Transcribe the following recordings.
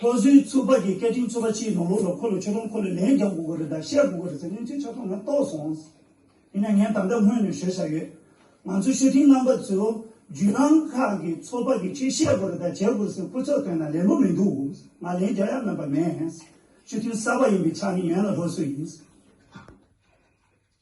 ལྷོ་བཟོའི་ཚོ་པ་གི་སྐད་འཕྲིན་ཚོ་པ་ཕྱིའི་ནང་ལོགས་ལ་ཁོ་ལ་ཆོས་གྲོང་ཁོ་ལ་ལན་རྒྱག་དགོས་ཀྱི་རེད་ད་བཤད་དགོས་ཀྱི་རེད་ཟེར་ནས་ཚུལ་ཆ་ཚང་ང་རྟོགས་སོང། ཡིན་ན་ངས་ད་ལྟ་སྔོན་ནས་ཤོད་བཞག་ཡོད། ང་ཚོ་ཤོད་འཕྲིན་རྣམ་པ་ཚོས་རྒྱུད་ནང་ཁག་གི་ཚོ་པ་གི་ཆོས་བཤད་དགོས་རེད་ད་བྱེད་དགོས་ཟེར་སྐུ་ཚབ་བཏོན་ན་ལེན་པོ་མི་འདུག་ང་ལན་རྒྱག་ཡ་མེད་པ་མེད། ཤོད་འཕྲིན་གསར་པ་ཡིན་པའི་ཆ་ནི་ཡོན་ལ་ལྷོ་བཟོ་ཡིན།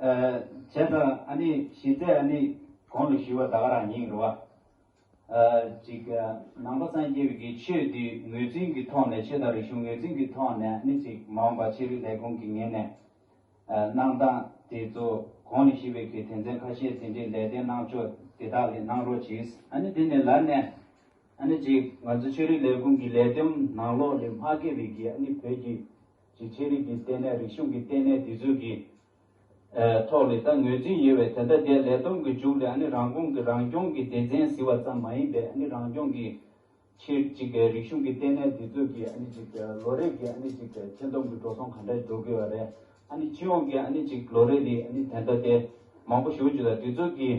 བྱས་དང་ཨ་ནི་ཞི་རྩེ་ཨ་ནི་གང་ལ་ཞུ་བ་དག་རང་ཉིད་རོ། གཅིག། ནང་པ་སངས་རྒྱས་ཀྱི་ཆོས་འདི་ངོས་འཛིན་གྱི་ཐོག་ནས་ཆོས་དང་རིག་གཞུང་ངོས་འཛིན་གྱི་ཐོག་ནས་ཨ་ནི་ཅིག་མ་འོངས་པ་ཕྱི་རོལ་ལས་ཁུངས་ཀྱི་ངོས་ནས་གནང་སྟངས་དེ་ཚོ་གང་ལ་ཞུ་བའི་གི་དོན་ཚན་ཁ་ཤས་ཟིན་བྲིས་ལས་དོན་གནང་ཕྱོགས་དེ་དག་ལས་གནང་རོགས་གྱིས། ཨ་ནི་དེ་ནས་ལར་ནས་ཨ་ནི་ཅིག་ང་ཚོ་ཆོས་རིག་ལས་ཁུངས་ཀྱི་ལས་དོན་ནང་ལོགས་ལས་མ་བརྒལ་བའི་གི་ཨ་ནི་བོད་ཀྱི་གྱི་ཆེ་རིགས་ཀྱི་ལྟེ་གནས་རིག་གཞུང་གི་ལྟེ་གནས་དེ་ཚོའི་གི་ཐོག་ལས་ད་ངོས་འཛིན་ཡོད་བའི་དེ་འདྲ་དེ་ལས་དོན་གི་མཇུག་ལས་ཨ་ནི་རང་ཁོང་གི་རང་སྐྱོང་གི་སྡེ་ཚན་ཟི་བ་ཙམ་མ་ཡིན་པའི་ཨ་ནི་རང་སྐྱོང་གི་ཆེ་གཅིག་རིག་གཞུང་གི་ལྟེ་གནས་དེ་ཚོའི་གི་ཨ་ནི་གཅིག་ལོ་རེ་གི་ཨ་ནི་གཅིག་ཆེ་མདོམས་གི་འགྲོ་སོང་ག་འདྲ་འགྲོ་གི་བ་རེད་ཨ་ནི་སྤྱི་ཡོངས་གི་ཨ་ནི་གཅིག་ལོ་རེ་རི་ཨ་ནི་དེ་འདྲ་དེ་མང་པོ་ཞུ་རྒྱུ་ལ་དེ་ཚོའི་གི།